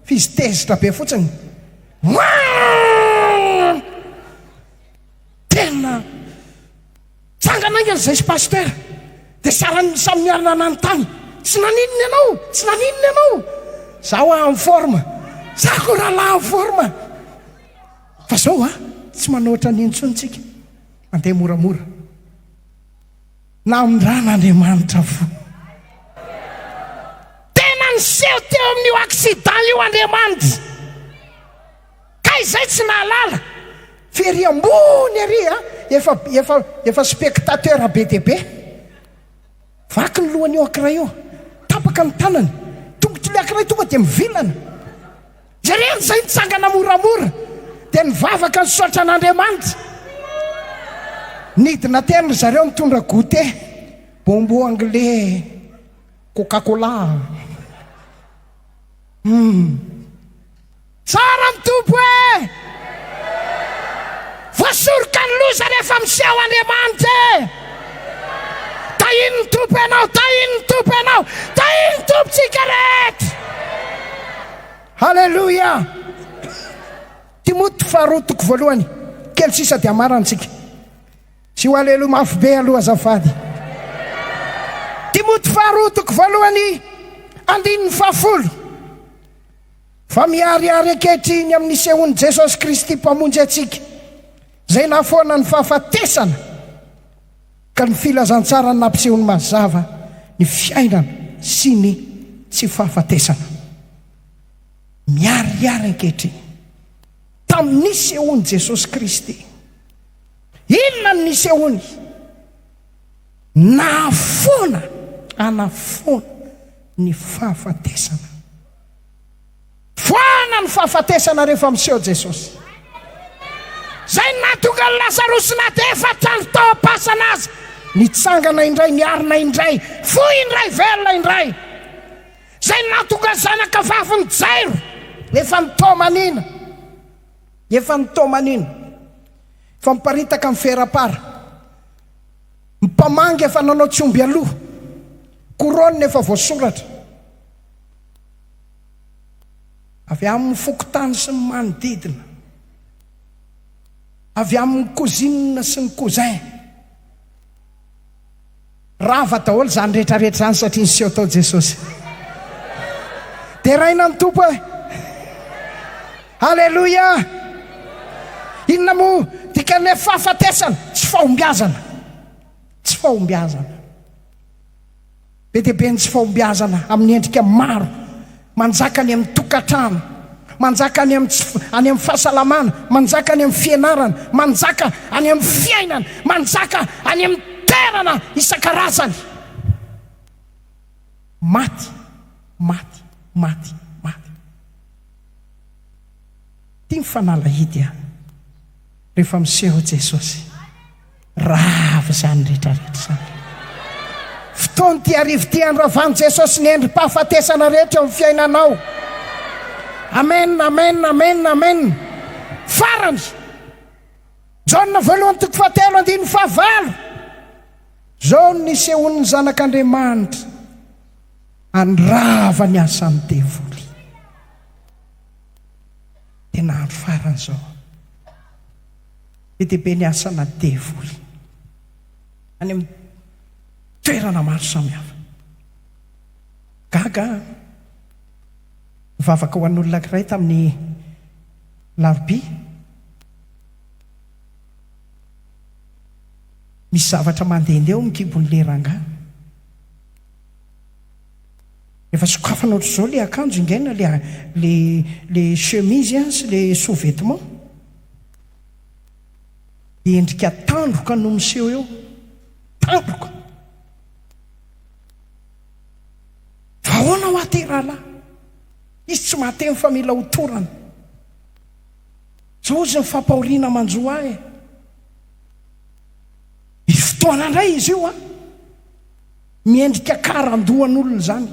F'izy tezitra be fotsiny. Whaam! Tena Tsangana aingana izay sy Pasteur! Dia saran'ny samy niarina nanontany, Tsy naninona ianao? Tsy naninona ianao? Za hoa en forme! Za koa rahalahy en forme! Fa zao a! Tsy manao ohatran'io intsony tsika. Mandeha moramora. Namindran'Andriamanitra fo. Tena niseho teo amin'io accident io Andriamanitra. Kay izay tsy nahalala. Very ambony ery a, efa, efa, efa spectateur be dia be. Vaky ny lohan'io ankiray io. Tapaka ny tanany. Tongotro ilay ankiray tonga dia mivilana. Jereo izay nitsangana moramora dia nivavaka nisaotra an'Andriamanitra. Nidina teny ry zareo nitondra goûter, bonbon anglais, coca cola. Humm. Tsara ny Tompo eh! Voasoroka ny loza rehefa miseho Andriamanitra eh! Tahian'ny Tompo ianao, tahian'ny Tompo ianao, tahian'ny Tompontsika rehetra. Haleloia! Timoty faharoa toko voalohany, kely sisa dia hamarantsika. Tsy ho haleloia mafy be aloha azafady. Timoty faharoa toko voalohany, andininy fahafolo. Fa miharihary ankehitriny amin'ny sehoan'i Jesosy Kristy Mpamonjy antsika, izay nahafoana ny fahafatesana. Ka ny filazantsarany nampisehony mazava ny fiainana sy ny tsy fahafatesana. Miharihary ankehitriny tamin'ny nisehoan'i Jesosy Kristy. Inona no nisehoany? Nahafoana, hanafoana ny fahafatesana. Voahana ny fahafatesana rehefa miseho Jesosy. Izay no nahatonga an'i Lazarosy na dia efatra andro tao am-pasana aza, nitsangana indray, niarina indray, foy indray, velona indray. Izay no nahatonga ny zanakavavin'i Jairo, efa nitaomanina, efa nitaomanina, efa miparitaka amin'ny fera-para, ny mpamangy efa nanao tsy omby aloha, koronina efa voasoratra. Avy amin'ny fokontany sy ny manodidina. Avy amin'ny cousine sy ny cousin. Rava daholo izany rehetrarehetra izany satria niseho tao Jesosy. Deraina ny Tompo e! Aleloia! Inona moa dikan'ilay fahafatesana? Tsy fahombiazana. Tsy fahombiazana. Be dia be ny tsy fahombiazana amin'ny endrika maro. Manjaka any amin'ny tokantrano. Manjaka any amin'ny tsy, any amin'ny fahasalamana. Manjaka any amin'ny fianarana. Manjaka any amin'ny fiainana. Manjaka any amin'ny toerana isan-karazany. Maty, maty, maty, maty. Ity ny fanalahidy an! Rehefa miseho Jesosy. Rava izany rehetra rehetra izany. Fotoana ity arivo ity handravan'i Jesosy ny endri-pahafatesana rehetra eo amin'ny fiainanao. Amen, amen, amen, amen. Farany. Jaona voalohany toko fahatelo andininy fahavalo. Izao no nisehoan'ny zanak'Andriamanitra handrava ny asan'ny devoly. Tena andro farany izao. Be dia be ny asana devoly any amin'ny toerana maro samihafa. Gaga aho, nivavaka ho an'olona ankiray tamin'ny Alarobia. Misy zavatra mandehandeha eo amin'ny kibon'ilay rangahy. Efa sokafana ohatr'izao ilay akanjo ingaina, ilay ilay chemise sy ilay sous-vêtement. Dia endrika tandroka no miseho eo. Tandroka! Fa ahoana hoa ity rahalahy? Izy tsy mahateny fa mila ho torana. Izao izy ny fampahoriana manjo ahy. Misy fotoana indray izy io an! Miendrika karandohan'olona izany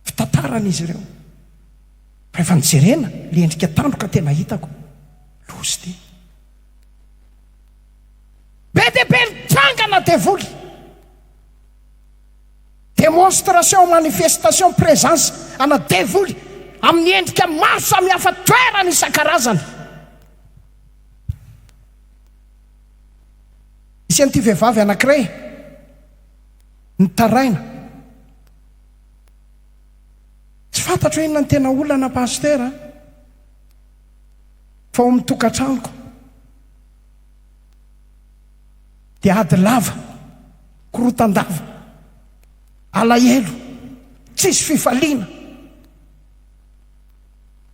fitantaran'izy ireo. Rehefa nojerena ilay endrika tandroka tena hitako, lozy dia. Be dia be ny trangana devoly. Démonstration, manifestation, présence ana devoly amin'ny endrika maro samihafa toerana isan-karazany. Nisy an'ity vehivavy anankiray nitaraina. Tsy fantatro hoe inona ny tena olana Pasteur a! Fa ao amin'ny tokantranoko dia ady lava, korontan-dava, alahelo, tsisy fifaliana.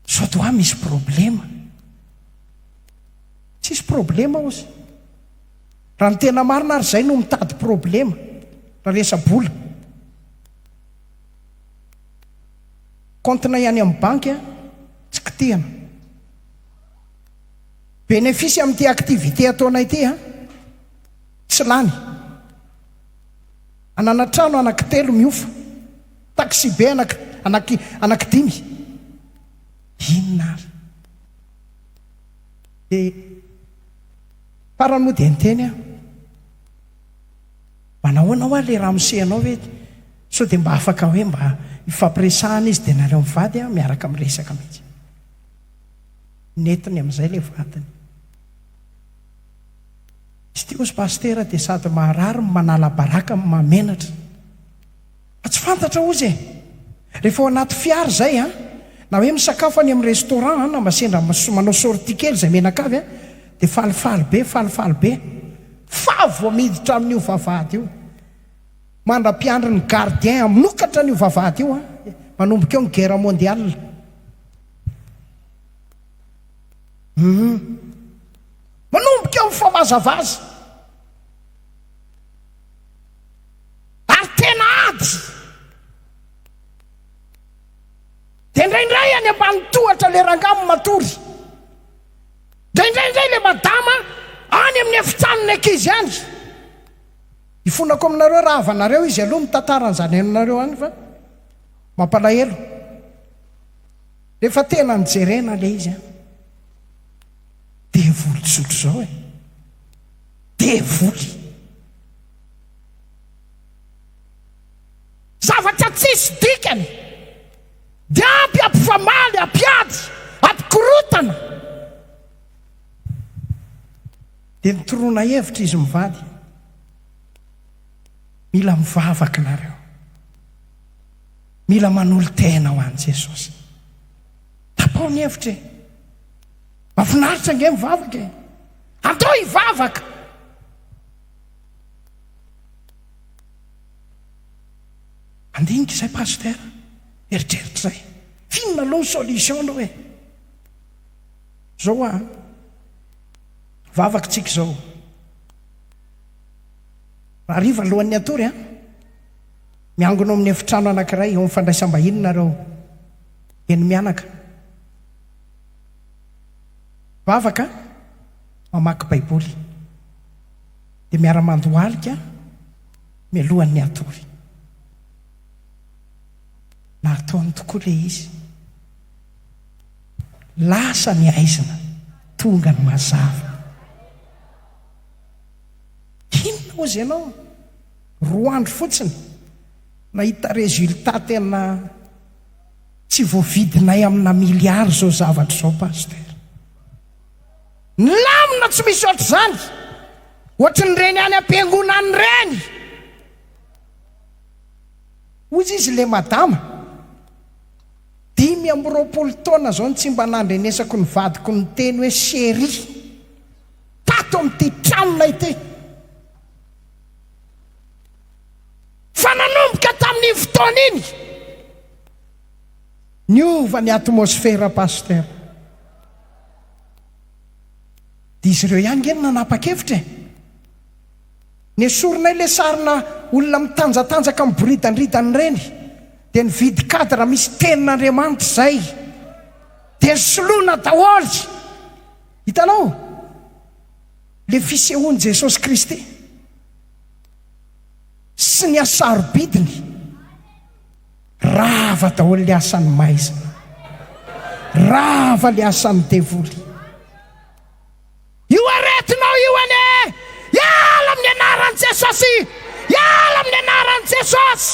Sao de hoa misy problema? Tsisy problema ozy. Raha ny tena marina ary zay no mitady problema raha resa-bola. Compte-nay any amin'ny banky a, tsy kitihana. Bénéfice amin'ity activité ataonay ity a, tsy lany. Hanana trano anaky telo miofa, taxi-be anaky anaky anaky dimy. Inona ary? Dia. Farany moa dia niteny aho, Mba nahoana hoa ilay ramose anao ve? Sao dia mba afaka hoe mba hifampiresahana izy dia naleo mivady aho miaraka miresaka mihitsy. Nentiny amin'izay ilay vadiny. Izy ity hozy Pasitera dia sady maharary no manala baraka no mahamenatra. Fa tsy fantatra hozy e! Rehefa ao anaty fiara izay an, na hoe misakafo any amin'ny restaurant an, na mba sendra manao sortie kely izay menakavy an, dia falifaly be, falifaly be. Fa vao miditra amin'io vavahady io, mandra-piandry ny gardien hamokatra an'io vavahady io an, manomboka eo ny guerre mondiale. Hum. Manomboka eo ny fomazavaza. ary tena ady dia indraindray any ambany tohatra le rangah no matory dia indraindray le madama any amin'ny efitranony ankizy any ifonako aminareo raha havanareo izy aloha mitantara an'izany ainonareo any fa mampalahelo rehefa tena nijerena le izy an devoly zotro zao e devoly Zavatra tsisy dikany. Dia ampy ampifamaly, ampiady, ampikorotana. Dia nitoroana hevitra izy mivady. Mila mivavaka nareo. Mila manolo-tena ho an'i Jesosy. Tapaho ny hevitra e. Mafinaritra ange mivavaka e. Andao hivavaka. Handinika izay Pasteur, eritreritra izay. F'inona aloha ny solution aloha e? Zao hoa an, vavaka tsika izao. Rahariva alohan'ny hatory an, miangona ao amin'ny efitrano anankiray eo amin'ny fandraisam-bahiny nareo eny mianaka. Vavaka an. mamaky Baiboly, dia miara-mandohalika mialohan'ny hatory. Nataony tokoa ilay izy. Lasa ny haizina, tonga ny mazava. Inona hozy ianao? Roa andro fotsiny, nahita résultat tena tsy voavidinay amina milliard izao zavatra izao, Pasteur. Milamina tsy misy ohatr'izany. Ohatrin'ireny any am-piangonana ireny. Hoy izy ilay madama, Dimy amby roapolo taona izao no tsy mba nandrenesako ny vadiko niteny hoe chérie tato amin'ity tranonay ity. Fa nanomboka tamin'iny fotoana iny, niova ny atmosfera, Pasitera. Dia izy ireo ihany ange no nanapa-kevitra e! Nesorinay ilay sarina olona mitanjatanjaka miboridandridana ireny, dia nividy cadre misy tenin'Andriamanitra izay, dia soloina daholo! Hitanao? Ilay fisehoan'i Jesosy Kristy sy ny hasarobidiny. Rava daholo le asan'ny maizina. Rava le asan'ny devoly. Io aretinao io anie! Iala amin'ny anaran'i Jesosy! Iala amin'ny anaran'i Jesosy!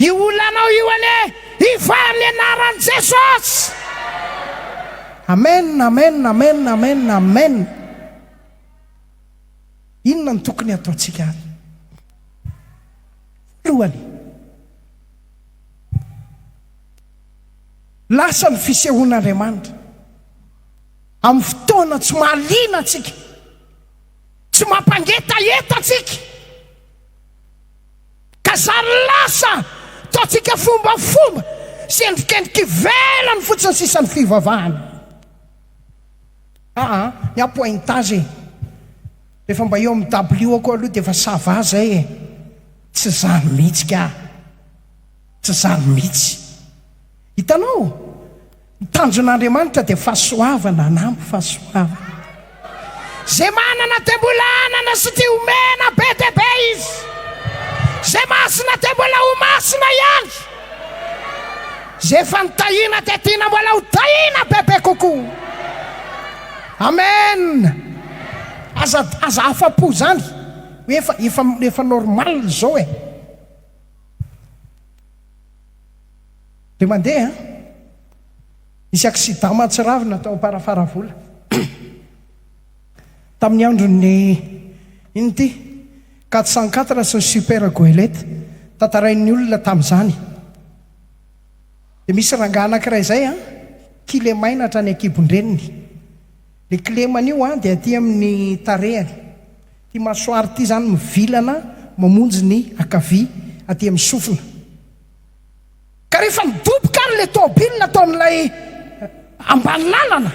Io olanao io anie! Iva amin'ny anaran'i Jesosy! Amen, amen, amen, amen, amen. Inona no tokony hataontsika ary? Teo aloha, lasa ny fisehoan'Andriamanitra amin'ny fotoana tsy mahaliana antsika, tsy mampangetaheta antsika, ka zary lasa ataontsika fombafomba sy endrikendrika ivelany fotsiny sisa ny fivavahana. Aa, ny apointazy. Rehefa mba eo amin'ny dabilio-ko aloha dia efa ça va izay e! Tsy zany mihitsy ka! Tsy zany mihitsy! Hitanao? Ny tanjon'Andriamanitra dia fahasoavana an'ampy fahasoavana. Izay manana dia mbola hanana sy tia homena be dia be Izy. Izay masina dia mbola ho masina ihany. Izay efa nitahiana dia tiana mbola ho tahiana bebe kokoa. Amen! Aza aza afapo zany hoe efa efa efa normal zao e! De mandeha an! Nisy accident mahatsiravina tao Amparafaravola tamin'ny andron'ny inn ty? Quatre cent quatre sy ny super goelette, tantarain'ny olona tamin'izany. Dia misy rangahy anankiray izay an, kilemainatra any an-kibon-dreniny. Ilay kilemany io an, dia aty amin'ny tarehany. Ity masoara ity izany mivilana mamonjy ny ankavia aty amin'ny sofina. Ka rehefa nidoboka ary ilay tômôbily nataon'ilay ambany lalana,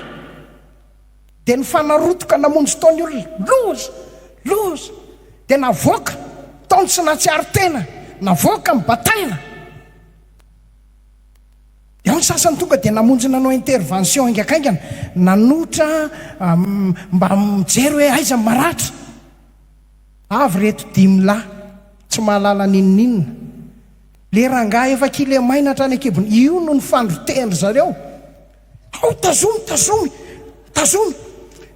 Dia nifanarotoka namonjy tao ny olona. Loza! Loza! Dia navoaka tao ny tsy nahatsiaro tena, navoaka ny bataina. Dia ao ny sasany tonga dia namonjy nanao intervention haingakaingana, nanotra mba mijery hoe aiza ny maratra. Avy ireto dimy lahy tsy mahalala n'inon'inona. Ilay rangahy efa kilemaina hatrany an-kibony, io no nifandro tehin-dry zareo. Ao tazomy tazomy tazomy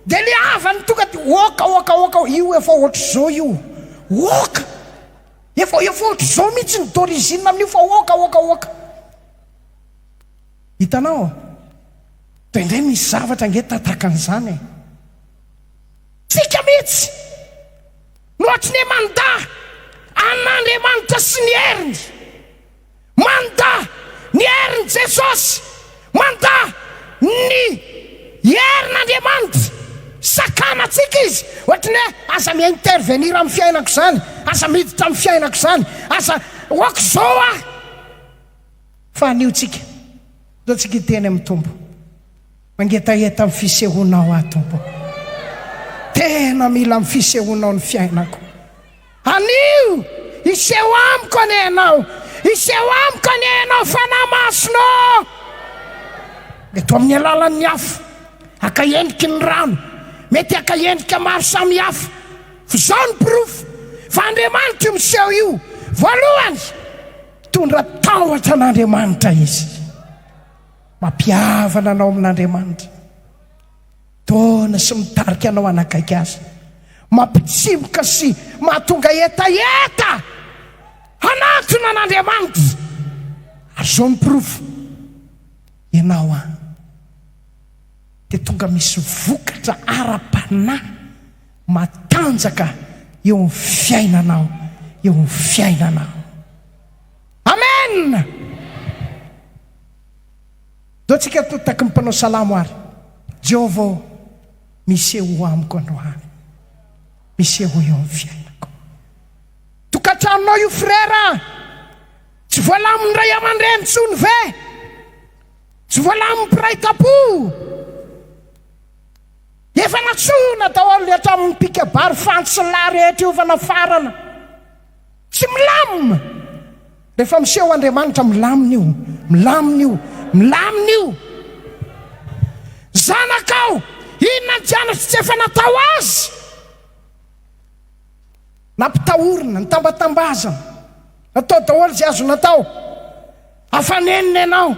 de le havany tonga de oka oka oka oka io efa otrzao io oka efa efa otrzao mihitsy ny d'origine amin'io fa oka oka oka hitanao de ndray misy zavatra nge tatakan'izany e tsika mihitsy no atry ne manda an'Andriamanitra sy ny heriny Manda ny herin'i Jesosy, manda ny herin'Andriamanitra. Sakana antsika Izy, ohatry ny hoe aza mi-intervenir amin'ny fiainako izany, aza miditra amin'ny fiainako izany, aza ok izao aho. Fa anio tsika, ndeha tsika hiteny amin'ny Tompo. Mangetaheta ny fisehoanao aho Tompo ô! Tena mila ny fisehoanao ny fiainako. Anio! Hiseho amiko anie Ianao! Hiseho amiko anie Ianao Fanahy Masina ô! Eto amin'ny alalan'ny afo, haka endriky ny rano, mety haka endrika maro samihafa. Fa izao no porofo fa Andriamanitra io miseho io, Voalohany, mitondra tahotra an'Andriamanitra Izy. Mampihavana anao amin'Andriamanitra. Dona sy mitarika anao hanakaiky Azy. Mampitsimoka sy mahatonga hetaheta hanantona an'Andriamanitra. Ary izao ny porofo. Ianao an, dia tonga misy vokatra ara-panahy matanjaka eo amin'ny fiainanao, eo amin'ny fiainanao. Amen! Zao tsika to taky ny mpanao salamo ary Jehovah ô miseho ho amiko androany miseho eo amin'ny fiainako tokantranonao io frera a tsy voalamin'ny ray aman-dreny intsony ve tsy voalamin'ny mpiray tampo efa natsoina daholo ny hatramin'ny mpikabary fantsy sy ny lahy rehetra io efa nafarana Tsy milamina! Rehefa miseho Andriamanitra, milamina io! Milamina io! Milamina io! Zanakao, inona ny janatro tsy efa natao azy? Nampitahorina, nitambatambazana, natao daholo izay azony atao. Afanenina ianao,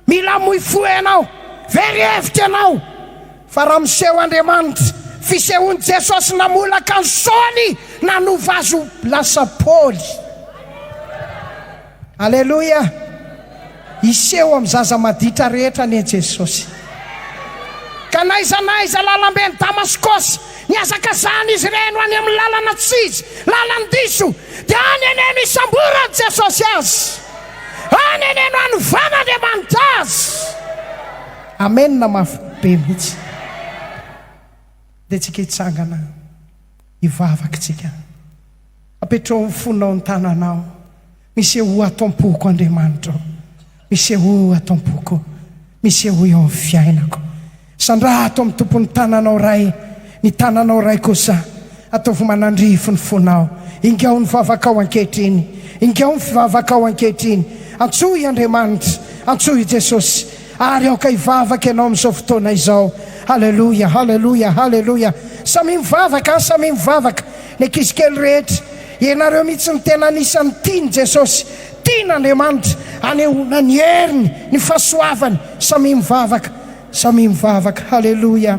mila amoy fo ianao, very hevitra ianao, fa raha miseho Andriamanitra, fisehoan'i Jesosy namolaka an'i Saoly nanova azy ho lasa Paoly. Aleloia! Hiseho amin'ny zaza maditra rehetra anie Jesosy. Ka n'aiza n'aiza lalamben'i Damaskosy, Nihazakazahana izy ireny ho any amin'ny lalana tsy izy, lalan-diso, dia any anie no isamboran'i Jesosy azy. Any anie no anovan'Andriamanitra azy. Amena mafy be mihitsy. Ndeha-tsika hitsangana, hivavaka tsika. Apetraho ny fonao ny tananao. Misehoa ato am-poko Andriamanitra o, misehoa ato am-poko, misehoa eo amin'ny fiainako. Sandraha ato amin'ny tompon'ny tananao Ray, ny tananao Ray kosa ataovy manandrify ny fonao. Ingao ny vavakao ankehitriny, ingao ny fivavakao ankehitriny. Antsoy i Andriamanitra, antsoy i Jesosy, ary aoka hivavaka ianao amin'izao fotoana izao. Haleloia, haleloia, haleloia. Samia mivavaka, samia mivavaka, ny ankizy kely rehetra. Ianareo mihitsy no tena anisan'ny tian'i Jesosy, tian'Andriamanitra anehoana ny heriny, ny fahasoavany, samia mivavaka, samia mivavaka. Haleloia.